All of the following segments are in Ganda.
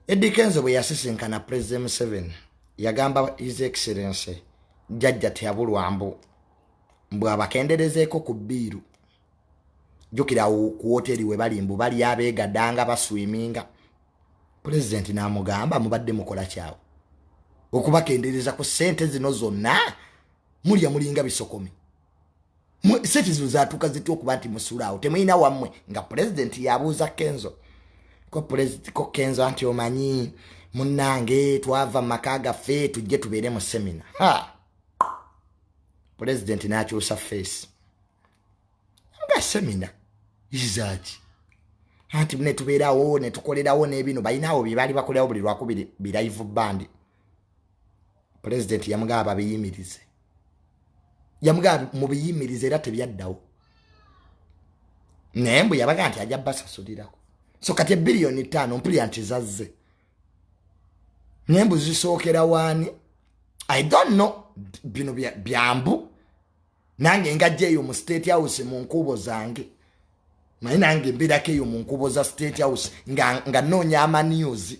Eddy Kenzo bwe yasisinkana President Museveni yagamba His Excellency jjajja teyabulwa mbu mbu abakenderezeeko ku bbiiru jjukira ku woteri we bali mbu bali abeegadanga baswiminga pulezidenti n'amugamba mubadde mukola kyawo okubakendereza ku ssente zino zonna mulya mulinga bisokomi sente zino zatuuka zitya okuba nti musulaawo temulina wammwe nga pulezidenti yabuuza kenzo ko pulezidenti ko kenzo anti omanyi munnange twava mu maka gaffe tujje tubeere mu semina ha pulezidenti n'akyusa feesi nga semina izaaki anti mune tubeerawo ne tukolerawo n'ebino balinaawo bye baali bakolerawo buli lwakubiri birayivu bandi pulezidenti yamugaba babiyimirize yamugaba mubiyimirize era tebyaddawo naye mbu yabaga nti ajja basasulirako so kati ebiliyoni ttaano mpulira nti zazze naye mbu zisookera waani i don't know bino byambu nange ngajja eyo mu state house mu nkuubo zange naye nange mbeerako eyo mu nkuubo za state house nga, nga noonya amaniuzi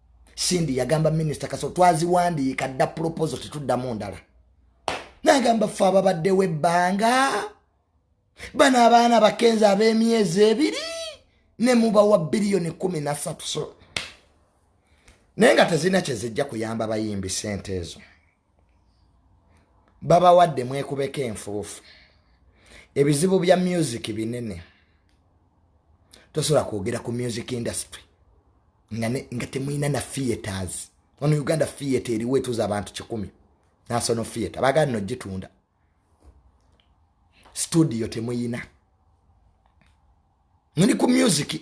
sindi yagamba minisita kaso twaziwandiika dda proposal tetuddamu ndala nagamba fe ababaddewo ebbanga bano abaana bakenzi ab'emyezi ebiri ne mubawa biliyoni kumi nasatu so naye nga tezirina kyezijja kuyamba bayimbi sente ezo babawadde mwekubeko enfuufu ebizibu bya music binene tosobola kwogera ku music industry nga, ne, nga temulina na theaters ono uganda theatre eriwo etuza abantu kikumi nasono theatre bagala no gitunda studio temuyina muli ku music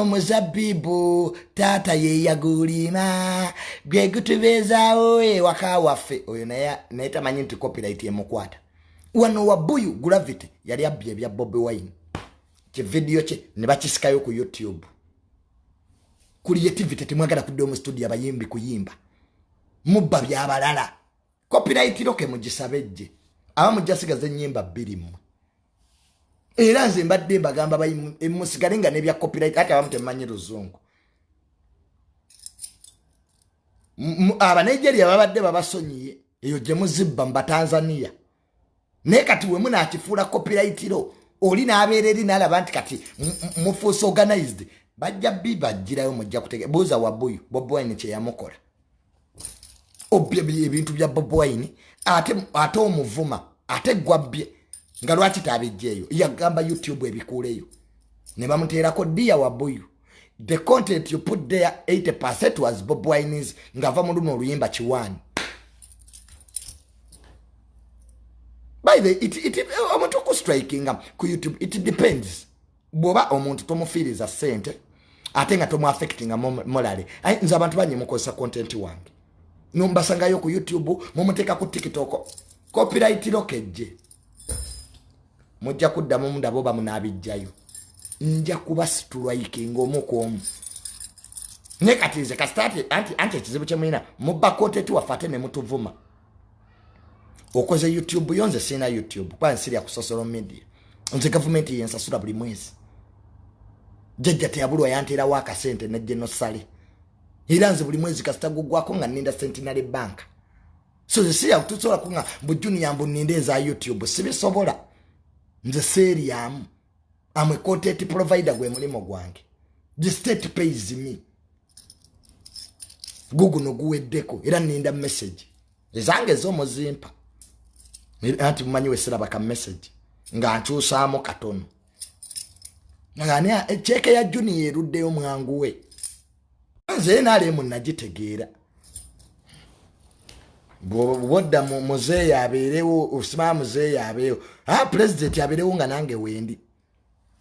omuzabibu taata yeyagulima gwe gutubeezaawo ewaka waffe oyo naye tamanyi nti copyright emukwata wano wabuyu gravity yali abbye ebya bobi wine kividiyo kye ne bakisikayo ku youtube creativity temwagala kudda omu studio abayimbi kuyimba mubba byabalala kopirayitiro ke mugisabe ejje aba mujja sigaza ennyimba bbiri mmwe era nze mbadde mbagamba musigale nga nebya kopirayiti ati abamu temumanyi luzungu abanigeria babadde babasonyiye eyo gye muzibba mu batanzaniya naye kati wemu nakifuula kopirayitiro oli nabeera eri nalaba nti kati mufuusa organized bajja bibajjirayo mujja kutege buuza wabuyu bob wine kyeyamukola obbye ebintu bya bob wine ate ate omuvuma ate gwabbye nga lwaki tabijjeeyo yagamba youtube ebikuuleyo ne bamuteerako ddiya wabuyu the content you put there 80 percent was bob wines ngava mu luno oluyimba kiwani by the it, it, omuntu okustrikinga ku youtube it depends bwoba omuntu tomufiiriza sente ate nga tomuaffectinga molale nze abantu banye mukozesa content wange nombasangayo ku youtube mumuteeka ku tiktok copyright lokejje mujja kuddamu mundaba oba munaabijjayo nja kuba situlaike ngaomu ku omu ne kati nze kasita anti anti ekizibu kye mulina mubba kontenti waffe ate ne mutuvuma okoze youtube yo nze sirina youtube kuba nsirya ku social media nze gavumenti yensasula buli mwezi jajja teyabulwa yanteerawo akasente ne genosale era nze buli mwezi kasita gugwako nga ninda centenary banka so nze siya tusobola kunga mbu juniya mbu ninde eza youtube sibisobola nze seeryamu amwe content provider gwe mulimu gwange the state pays me guguno guweddeko era ninda message ezange ezomuzimpa anti mumanyi wesiraba ka message nga nkyusaamu katono ani ekyeke ya juniya eruddeyo mwanguwe nze nrm nagitegeera bwodda muzeeyi abeerewo osima muzeeyi abeewo a ah, pulezidenti abeerewo nga nange wendi